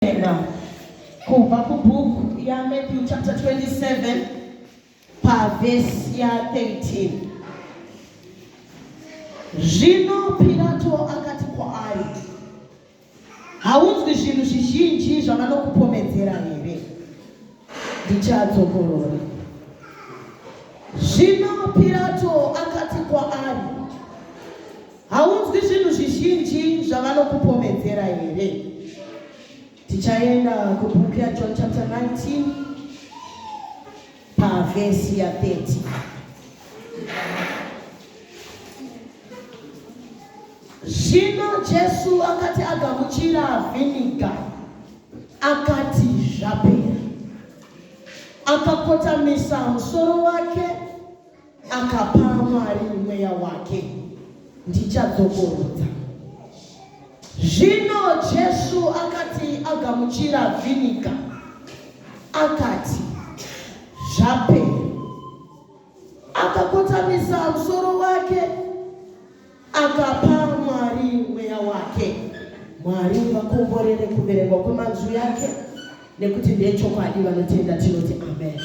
Tenda kubva kubhuku yaMatthew chapter 27 pavhesi ya13 zvino Pirato akati kwaari haunzwi zvinhu zvizhinji zvavanokupomedzera here ndichadzokorora zvino Pirato akati kwaari Haunzwi zvinhu zvizhinji zvavanokupomedzera here? Tichaenda kubhuku yaJohn chapter 19 pavhesi ya 30. Zvino Jesu akati agamuchira vhiniga, akati zvapera, akakotamisa musoro wake Akapa Mwari mweya wake, ndichadzokorodza. Zvino Jesu akati agamuchira vhiniga, akati, Zvapera. Akakotamisa musoro wake. Akapa Mwari mweya wake. Mwari vakomborere kuverengwa kwemanzwi yake nekuti ndechokwadi vanotenda tinoti amen.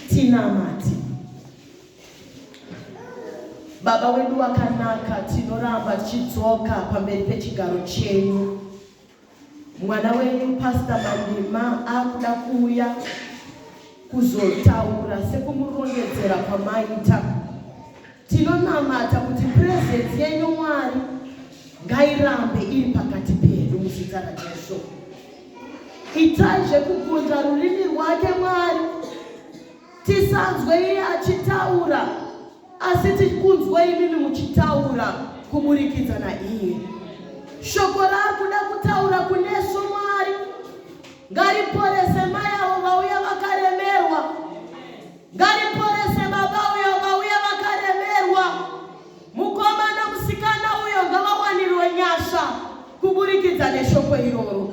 Tinamati. Baba wedu wakanaka, tinoramba tichidzoka pamberi pechigaro chenyu. Mwana wenyu Pastor Mandima akuda kuuya kuzotaura sekumurondedzera kwamaita. Tinonamata kuti presence yenyu Mwari ngairambe iri pakati pedu muzita raJesu. Itai zvekugunza rurimi rwake Mwari, tisanzwe iye achitaura Asi tiri kunzwa imimi muchitaura kuburikidza naiye. Shoko raari kuda kutaura kunesu Mwari ngariporese mai avo vauya vakaremerwa, ngariporese baba uyo vauya vakaremerwa, mukomana musikana uyo ngavawanirwe nyasha kuburikidza neshoko iroro.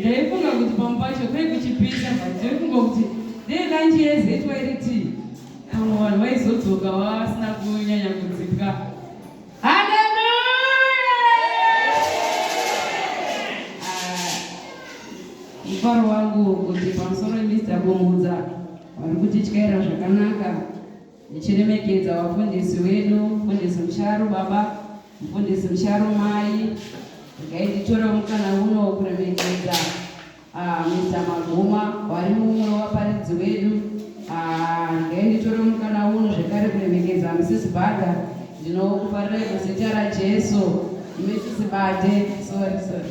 ndaifunga kuti pamwe pacho kwai kuchipisa ndaifunga kuti dei lanji yezetwa iri tii pamwe vanhu vaizodzoka vasina kunyanya kudzipwa mufaro ah, wangu kuti pamusoro emista kumudza vari kutityaira zvakanaka Ndichiremekedza vafundisi wedu, mfundisi Musharu baba, mfundisi Musharu mai, regai nditorewo mukana uno kuremekedza ah, Mr. Maguma wari mumwe wevaparidzi wedu. Ah, regai nditorewo mukana uno zvekare kuremekedza Mrs. Bada. Ndinokufarirai muzita raJesu Mrs. Bade, sorry sorry.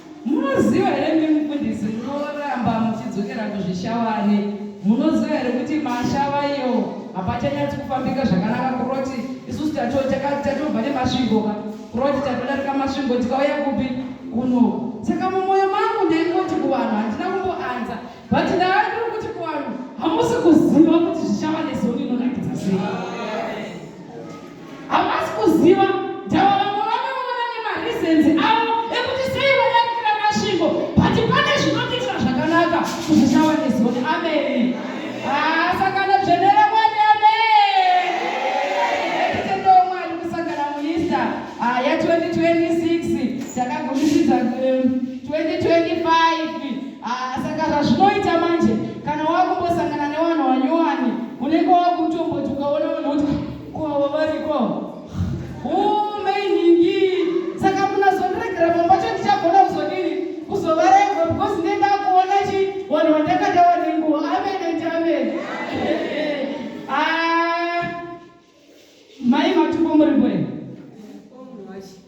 Munoziva here imi mufundisi munoramba muchidzokera kuzvishavane munoziva here kuti mashava iyo hapachanyatsi kufambika zvakanaka kuroti isusu tatobva nemasvingoka kuroti tatodarika masvingo tikauya kupi kuno saka mumwoyo mangu ndaingoti kuvanhu handina kumboanza but ndava ndiri kuti kuvanhu hamusi kuziva kuti zvichava nezoni inonakidza sei Havasi kuziva ndava vamwe vanoona nemareasons avo ekuti sei vadarikira masvingo but pane zvinotiitira zvakanaka kuti tava nezoni ameni asakana dzvene ramwari ameetitendoo mwari kusangana muista ya 2026 takagumisidza 2025 saka zvazvinoita manje kana wakumbosangana nevanhu vanyowani unenge wakutombotukaona Ko avo variko. Huu mai nhingi. Saka munazondiregera pamba cho ndichagona kuzodini? Kuzovarega because ndiye ndakuona chi wanhu wandakadawa nenguva. Amen and amen. Ah. Mai matupo muri bwe.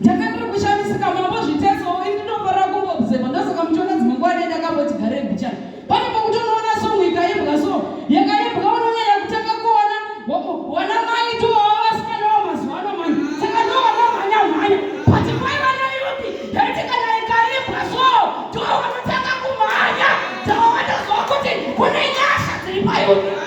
ndakatiri kushamisika mambo zviteso ini ndinofarira kungoobserva ndozoka muchiona dzimwe nguva dai ndakamboti gare bicha pane pokutonoona songo ikaimbwa so yakaimbwa unonyanya kutanga kuona wana mai towawa vasikana wa mazuva ano mani saka ndowana mhanya mhanya but kwaiva nayuti yaiti kana ikaimbwa so towanotanga kumhanya tawawatoziva kuti kune nyasha dziri payuti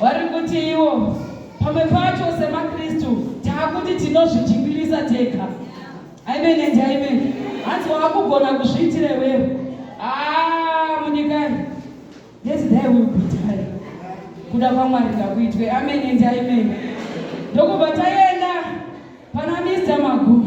Vari kuti iwo pamwe pacho semaKristu taakuti tinozvijingirisa tega. Amen and amen. Hanzi wakugona kuzviitira iwewe. Ah, munyikai. Yes, there will be time. Kuda kwaMwari ngakuitwe. Amen and amen. Ndokubva taenda pana Mr. Magu.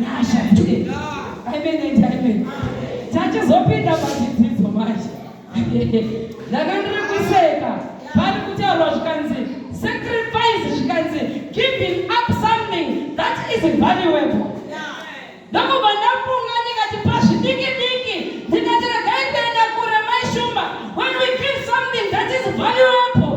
nyasha ndiye amen and amen tachizopinda pachidzidzo manje ndakandiri kuseka pari kutaurwa zvikanzi sacrifice zvikanzi giving up something that is valuable ndokubva ndafunga ndikati pazvidiki diki ndikati regai kuenda kure maishumba when we give something that is valuable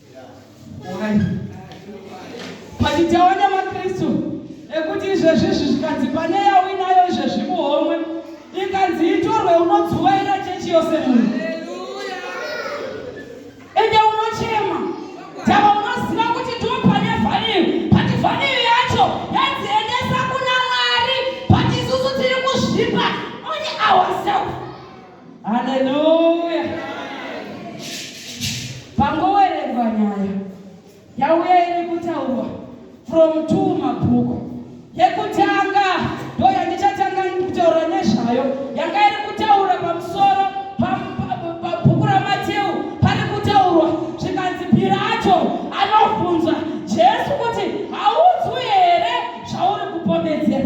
Pachitawo nemaKristu ekuti izvezvi izvi zvikanzi pane yawinayo izvezvi muhomwe ikanzi itorwe unodzuvaira chechi yose munhu ende unochema tava unoziva kuti ndiwo pane vhaniyo pati vhaniyo yacho yanzi endesa kuna mwari pati isusu tiri kuzvipa oni awaself Haleluya! Pangowerengwa nyaya yauya iri kutaurwa from two mabhuku yekutanga ndo yandichatanga kutaura nezvayo yanga iri kutaura pamusoro pabhuku ramateu pari kutaurwa zvikanzi pirato anobvunza jesu kuti haudzwi here zvauri kupomedzera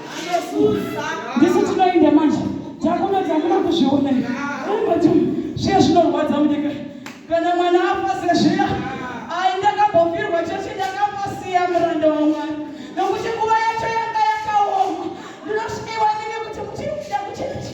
ndisu tinoenda manje dzakuno dzamuna kuzviona ambati zviya zvinorwadza munyika kana mwana afa sezviya ai ndakambofirwa chechi ndakambosiya muranda wamwari nokuti nguva yacho yanga yakaoma ndinosvikiwa nini kuti muchiri kuda kuchirichi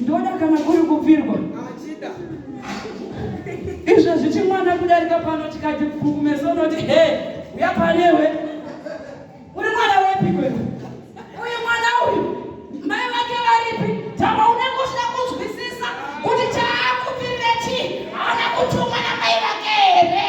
ndoda kana kuri kubvirwa izvo zvichi mwana kudarika pano tikati kukumeso unoti he uya panewe uri mwana wepi kwe uyu mwana uyu mai vake varipi tama unengosvika kunzwisisa kuti chaakupirira chii haana kutumwa namai vake here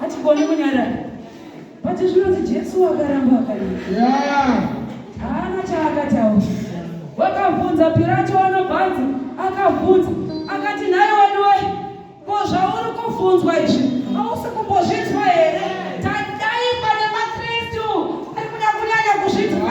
hatigoni kunyarara but zvinonzi jesu wakaramba akarira haana chaakataura wakabvunza pirato anobvanzi akabvunza akati nhai wadiwe ko zvauri kubvunzwa izvi hausi kumbozvinzwa here tadai pane makristu ari kuda kunyanya kuzvinzwa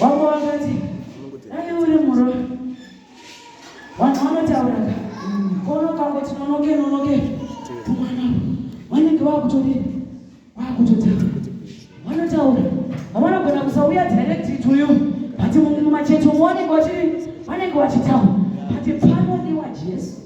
wako wakati dai uri muroi vanhu vanotauraka kono kango tinonoke nonoke tumwana vanenge vakutodii vakutotaura vanotaura havanogona kusauya direct ituyu but mumwe macheto muonekwa chii vanenge vachitaura but pano ndiwa jesu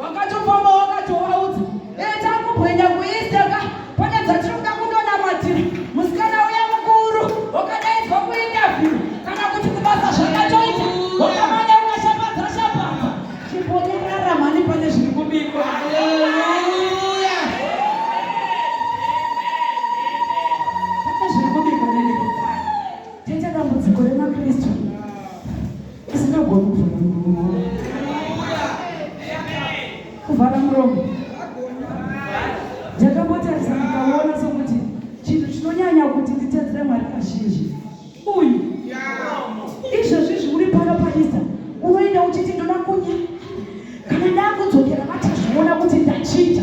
wakatofamba wakatovaudza eta kubwenya kuisteka pane dzatiri kuda kundonamatira musikana uya mukuru wakadaidzwa kuinterview kana kuti kubasa zvakatoita wakamanya ukashapatsa shapatsa chibonyerara mhani pane zviri kubikwa Tisingagoni kuvhara muromo kuvhara muromo ndakambotarisa ndikaona sokuti chinhu chinonyanya kuti nditedzere mwari kazhinji uyu izvezvi zviuri pano paista unoenda uchiti ndoda kunya kana ndakudzokera vachazviona kuti ndachinja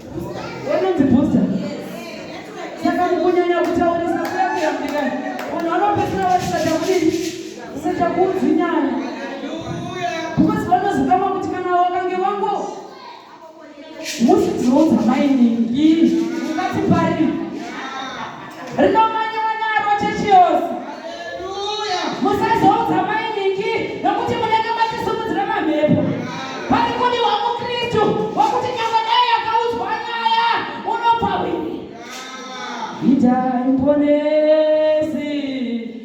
Wanonzi booster. Saka mukunyanya kutaurisa kuyambira vanhu vanopedzera vasisada kudini kusada kuudzinyana because vanozikama kuti kana wakange wango musidziudza mainini ii ungati pari rinomanyiwa naro chechi yose musazoudza mainiki nokuti munenge machisumudzira mamhepo pari kudiwa mukristu wakuti nyangwe dai yakaudzwa nyaya unobva hwiri itai mponei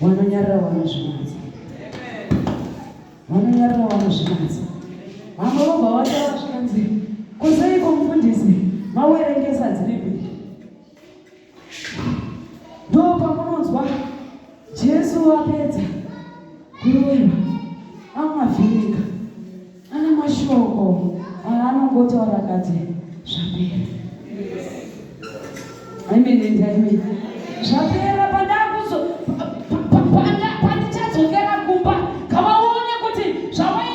vanonyarira vanozvinatsa vanonyarira vanozvinatsa vamwe vobva vataura zvikanzi kuzeiko mufundisi mawerengesa dzine kuita ndo pamunonzwa jesu apedza kuroverwa amavhiringa Ane mashoko aanongotaura akati zvapera. Amen and amen. Zvapera pandakuzo pandichadzokera kumba kavaone kuti zvawai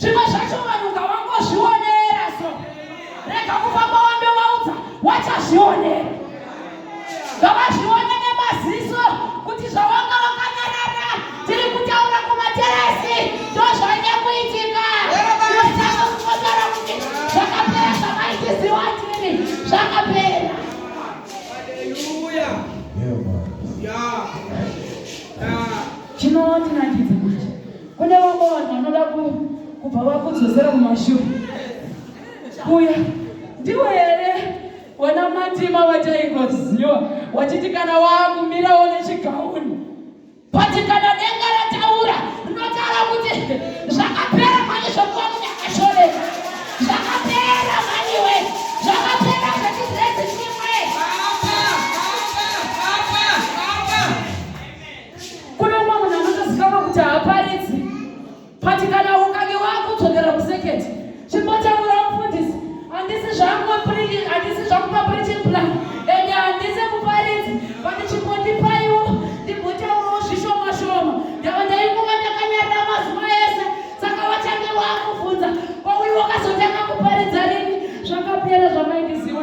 zvimwe zvacho vanhu ngavangozvionera so rega kufamba wandovaudza wachazvionera ngavazvione nemaziso kuti zvawanga wakanyarara tiri kutaura kumateresi ndozvanye kuitika osaka kukotora kuti zvakapera zvamaitiziwa tiri zvakapera chinotinakidza Kune vamwe vanhu vanoda kubva vakudzosera mumashure kuya ndiwe here wana matima wataikoziwa wachiti kana waakumirawo nechigauni pati kana denga rataura rinotaura kuti zvakapera mani zvokuva munhu akashoreka zvakapera maniwe zvakapera zvechizrezi Kune umwe munhu anotozikanwa kuti haaparidzi but kana ukange wakudzokera kuseketi chimbotaura mufundisi handisi zvangu handisi zvangu papreaching plan and handisi muparidzi but chimbondipaiwo ndimbotaurawo zvishoma shoma ndava ndainguva ndakanyarira mazuva ese saka wachange wakubvunza kwauyu wakazotanga kuparidza rini zvakapera zvamaindiziwa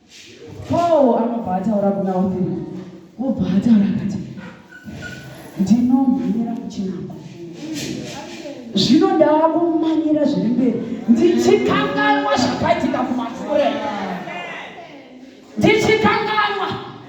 Paul anobva ataura kuna Othini, obva ataura akati, ndinomhanyira kuchinako zvino ndava kumanyira zviri mberi ndichikanganwa zvakaitika kumafure ndichikanganwa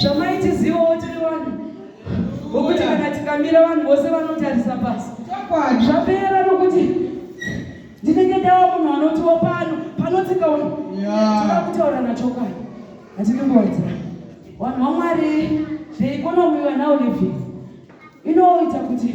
zvamaitizivawo tiri vanhu vokuti kana tikamira vanhu vose vanotarisa pasi zvapera nokuti ndinenge ndava munhu anotiwo pano panotsika uno tinoda kutaura nachokwadi hatidi kuwedzera vanhu vamwari the economy we're now living inoita kuti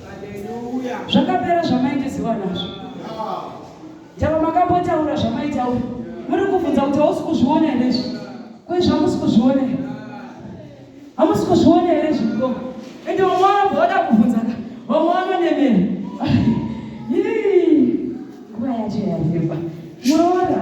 zvakapera zvamaitiziwa nazvo tava makambotaura zvamaitaura muri kubvunza kuti hausi kuzviona here izvi kwei zvamusi kuzviona here hamusi kuzviona here izvi ko ende vamwe vanobva vada kubvunzaka vamwe vanonemera nguva yacho yavimba muroora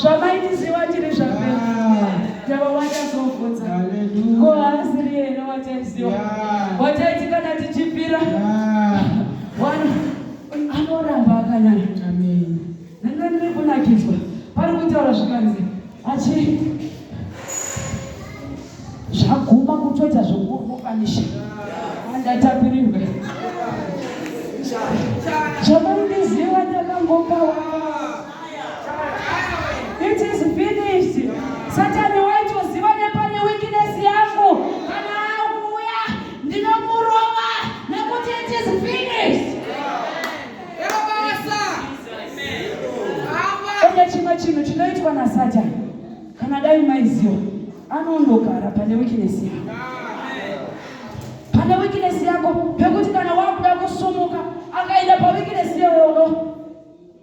zvamaitiziva tiri zvapera ndava watazovhunza ko haasiri here wataiziva wataiti kana tichipira anoramba akanyara nanga ndiri kunakidzwa pari kutaura zvikanzi achi zvaguma kutoita zvokurukanisha andatapirirwe zvamaitiziva ndakangopawa It is finished. Satani waitoziva nepane weakness yangu kana auya ndinomurova nekuti it is finished. Kune chimwe chinhu chinoitwa naSatani kana dai maiziva anondogara pane weakness yangu pane weakness yako pekuti kana wakuda kusumuka akaenda pa weakness yewono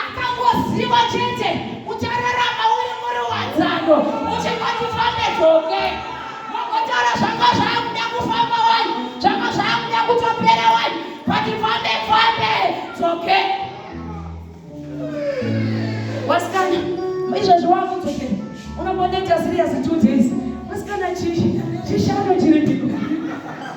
akangoziva chete uchararama uri muri wadzano uchingoti fane dzoke makotaura zvanga zvakuda kufamba wani zvanga zvakuda kutopera wani vati fane fane dzoke wasikana izvezvi wakudzokera unombondoita siriyasi two days wasikana chishano chiripi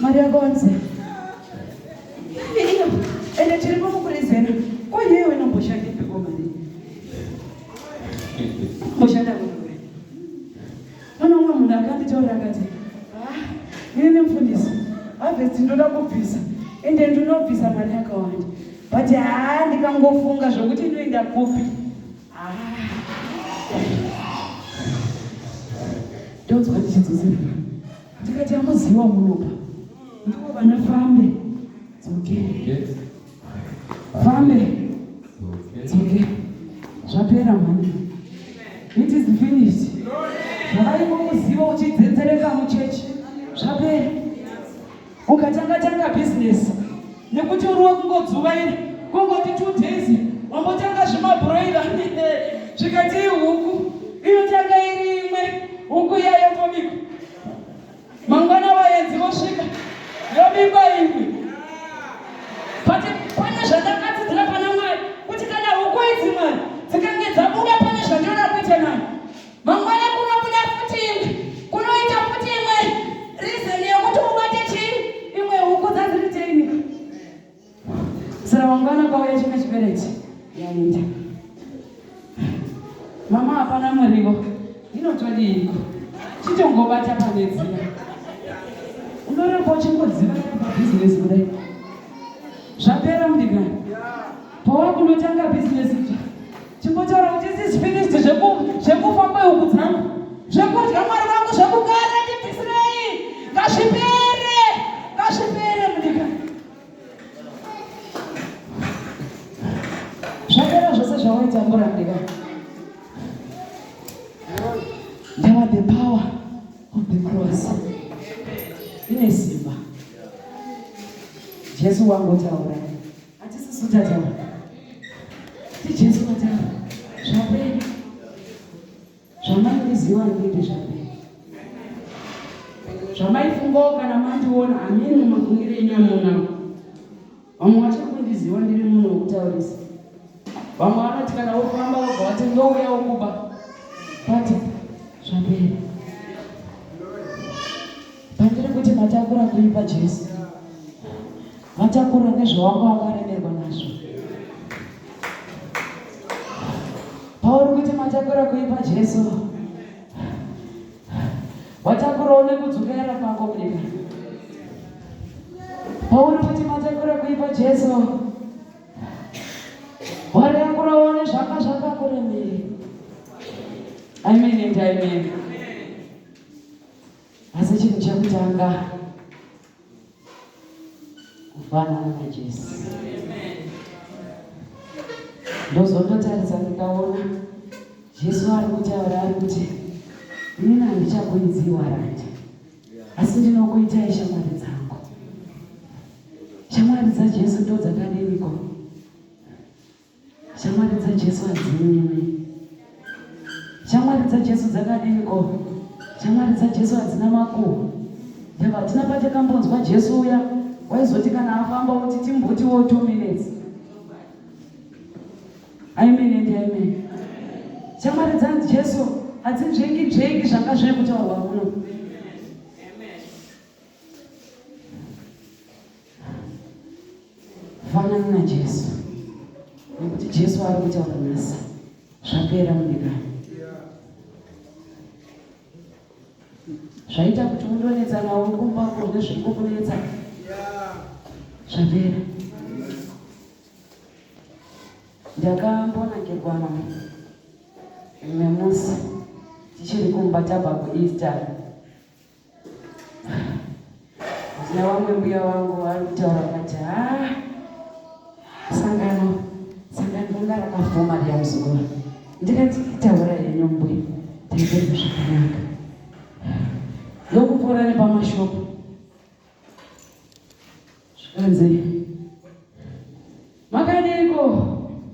Maria Gonza. Iyo, ende tiri pamukurizera. Ko yeye wena mboshande peko mari. Mboshanda wewe. Mwana umwe munhu akanditaura akati, "Ah, ini nemfundisi, harvest ndoda kubvisa. Ende ndinobvisa mari yakawanda. But haa ndikangofunga zvokuti inoenda kupi. Ah. Ndonzwa ndichidzosera. ndikati amuziwa munoka ndivo vana fambe dzoke fambe dzoke zvapera mhani it is finished zvavaiko muziva uchidzenzereka muchechi zvapera ukatanga tanga bhizinesi nekuti uri wekungodzuvaira kungoti two days wambotanga zvimabroira zvikatii huku inotanga iri imwe huku iyayo tobikwa mangwana vaenzi vosvika yobikwa imwe but pane zvandakadzidzira pana mwari kuti kana huku idzi mwari dzikange dzabuda pane zvandinoda kuita nayo Mangwana kunobuda futi imwe, kunoita futi imwe reason yekuti ubate chii imwe huku dzaziri teinika. Saka mangwana kwauya chimwe chibereki yaenda. Mama hapana murivo, inotodiiko? Chitongobata pane dziya. Unoramba uchingoziva pa business kudai. Zvapera mudigani. Powa kunotanga business Chimbotaura kuti this is finished zveku zvekufa kwehuku dzangu. Zvekudya mwari wangu zvekugara ndibvisirei. Ngazvipere. Ngazvipere munyika. Zvapera zvose zvawaita murambika. Now the power of the cross. Ine simba. Jesu wangu taura. Hatisisu tataura. TiJesu vataura. Zvapera. Zvamaiziva ndinde zvapera. Zvamaifungawo kana mandiona hameno mafungire enyu amunawo. Vamwe vachakundiziva ndiri munhu wekutaurisa. Vamwe vanoti kana wofamba wobva wati ndouya wokuba. But zvapera. Pandiri kuti matakura kuipa Jesu. Matakura nezvawanga wakaremerwa nazvo. Pauri kuti matakura kuipa Jesu. Watakurawo nekudzokera kwako munyika. Pauri kuti matakura kuipa Jesu. Watakurawo nezvanga zvakakuremera. Amen and amen. Asi chinhu chekutanga kufanana naJesu. Ndozondotaridza ndikaona Jesu ari kutaura ari kuti ini handichakuidzii warandi, asi ndinokuitai shamwari dzangu. Shamwari dzaJesu ndodzakaneniko? Shamwari dzaJesu hadzinyimi. Shamwari dzaJesu dzakadini ko? Shamwari dzaJesu hadzina makuhwa. Ndava hatina patakambonzwa Jesu uya waizoti kana afamba woti timbutiwo two minutes. Amen and amen. Shamwari dzaJesu hadzinzvengi dzvengi zvanga zviri kutaurwa muno. fanana najesu nekuti jesu ari kuita kunasa zvapera mudikani zvaita kuti undonetsa nawo kumba kune zvingokunetsa zvapera ndakambonakirwa nawo imwe musi tichiri kumba tabva kueaster navamwe mbuya vangu vari kutaura vati ha sangano sangano ranga rakafoma riyamuzowa ndikanzi taura henyu mbuya taizenge zvakanaka ndokupora nepamashopo zvikanzi makadeiko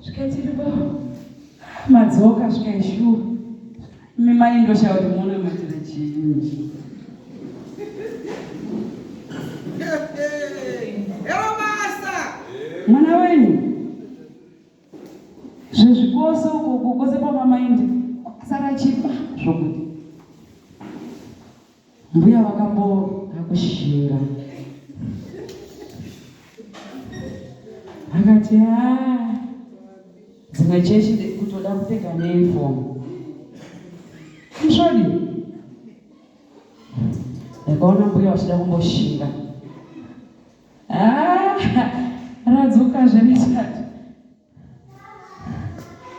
zvikati ndipo madzoka zvikaishuwa imi mai ndoshaya kuti muona matira chinji mwana wenyu zvezvikoso kukose kwamamaindi kwakasara chipa zvokuti Mbuya vakamboda kushinga akati haa dzimwe chechi kutoda kupfeka neunifomu msvodi ndakaona mbuya vachida kumboshinga ah, radzoka zvenesati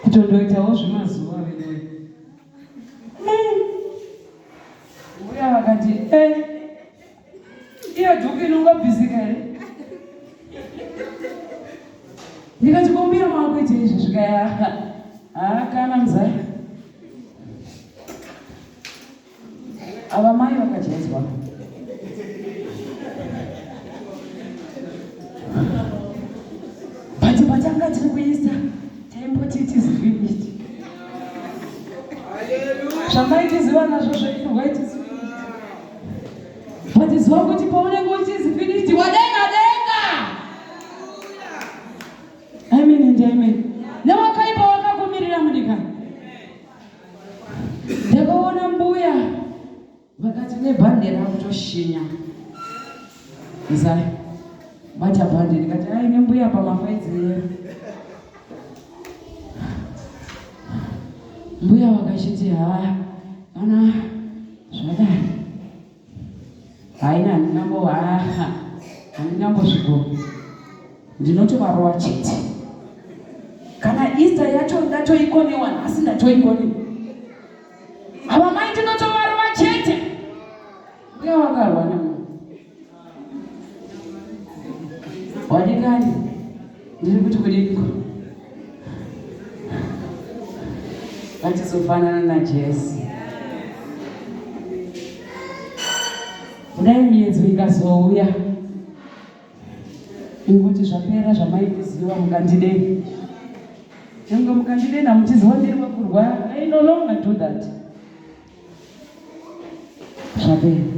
kutondoitawo zvemazuva veduwe uya vakati e iyo dhuku inongobvisika here ndikati kombira maakuita izvi zvikaya haa kana muzaya Ava mai vakajedzwa. But patanga tiri kuisa taimboti it is finished. Zvamaitiziva nazvo zvaifurwa it is But zuva kuti paunenge uchizi finished wadenga denga. Amen and amen. Newakaipa wakakumirira mudikani. ndakaona mbuya vakati nebhande ravo toshinya zai bata bhande ndikati ai nembuya pamafaidzi yero mbuya vakachiti haa kana zvadai haina handina mbo haa handina mbosviko ndinotovarowa chete kana ista yacho ndatoikonewa nhasi ndatoikonewa havamai ndinotovarowa chete mbuya wakarwa namu Wadikani, ndiri kuti kudiko vatizofanana naJesu. Kudai miyedzo ikazouya inguti zvapera zvamaiziva mukandidei nyange mukandidei namuchiziva ndiri wekurwara i no longer do that zvapera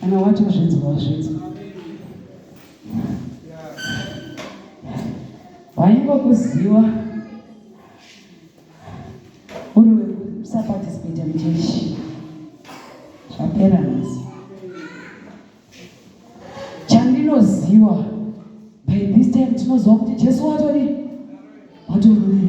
Kana wati wazvinzwa wazvinzwa. Waingokuziwa uri wekusaparticipate muchechi zvapera nhasi. Chandinoziwa by this time tinoziwa kuti Jesu watori watori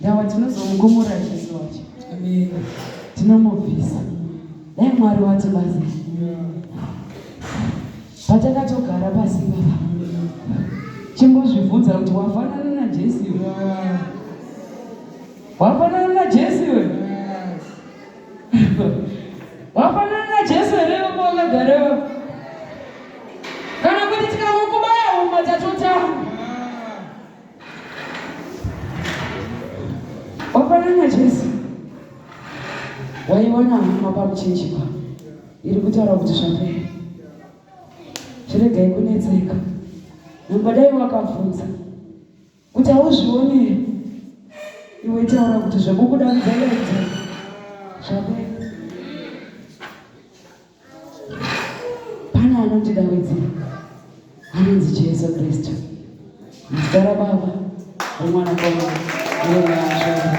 Ndawa tinozomugumura Jesu wacho. Amen. Tinomubvisa. Dai Mwari wati basa. Patakatogara pasi baba. Chingozvibvunza kuti wafanana na Jesu iwe. Wafanana na Jesu iwe. Wafanana na Jesu here iwe wakagarewa? Kana kuti tikamukubaya uma tatotanga. wafanana jesu waiwana hama pamuchinji pa iri kutaura kuti zvapera zviregai kunetseka nambadai wakabvunza kuti hauzvionere iwe taura kuti zvekukuda mudzaidza zvapera Pana anondidaidzira anonzi Jesu Kristu, muzita raBaba, reMwanakomana, reMweya Mutsvene.